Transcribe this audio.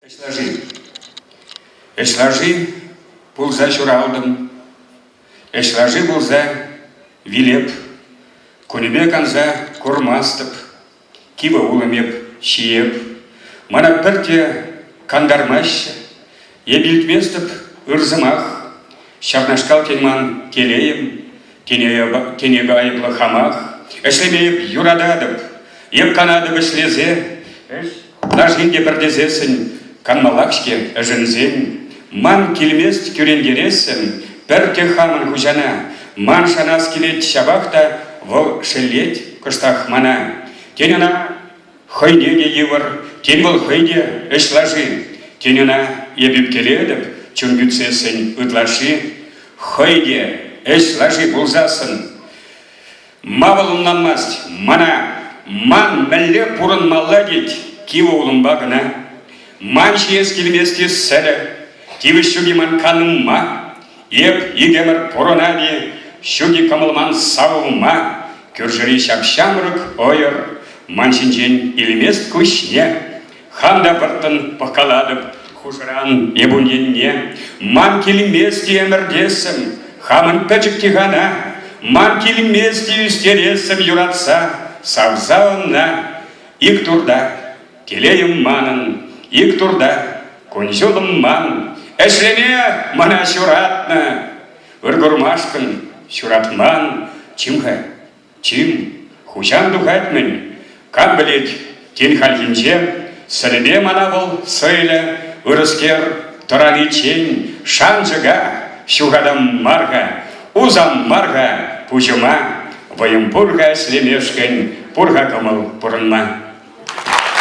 Ӗҫ лаши. Ӗҫ лаши пулса ҫуралтӑм. Ӗҫ лаши пулса вилеп. Кунӗпе канса курмастӑп. Кивӗ улӑм эп ҫиеп. Мана пӗрте кантармаҫҫӗ. Эп илтместӗп ыр сӑмах. Ҫакнашкал тен ман телейӗм Тенек айӑплӑ хамах. Ӗҫлеме эп юрататӑп. Эп канатӑп ӗҫлесе. Ӗҫ лашин те пӗртесессӗн, канмаллах-ҫке ӗшенсен. Ман килмест кӳрентерессӗм пӗртте хамӑн хуҫана. Ман шанас килет ҫапах та вӑл шеллет кӑштах мана. Тен ӑна Хӑйне те йывӑр, тен вӑл хӑй те ӗҫ лаши, тен ӑна эп ӳпкелетӗп чун кӳтсессӗн ытлашши, хӑй те ӗҫ лаши пулсассӑн. Ма вӑл ӑнланмасть мана? Ман мӗнле пурӑнмалла тет кивӗ улӑмпа кӑна? Ман ҫиес килмест-и сӗрӗ? Тивӗҫ ҫук-и ман канӑмма? Эп икемӗр пурӑнап-и ҫук-и кӑмӑлман савӑнма, Кӳршӗри ҫап-ҫамрӑк ӑйӑр ман ҫинчен илмест куҫне. Хам та вӑрттӑн пӑхкалатӑп хушӑран эп ун енне. Ман килмест-и ӗмӗртессӗм хамӑн пӗчӗк тихана, Ман килмест-и ӳстерессӗм юратса савса ӑна. Ик турта Телейым манӑн ик турта, кун-ҫулӑм манӑн, ӗҫлеме мана ҫуратнӑ. Ыркурмашкӑн ҫуратман чим-ха, чим, хуҫам тухать-мӗн. Кам пӗлет, тин хальхинче сӗрпе мана вӑл сӑйлӗ, ырӑскер, тӑраниччен шанчӑка ҫухатам мар-ха, усам мар-ха пуҫӑма, вӑйӑм пур-ха ӗҫлемешкӗн, пур-ха кӑмӑл пурӑнма.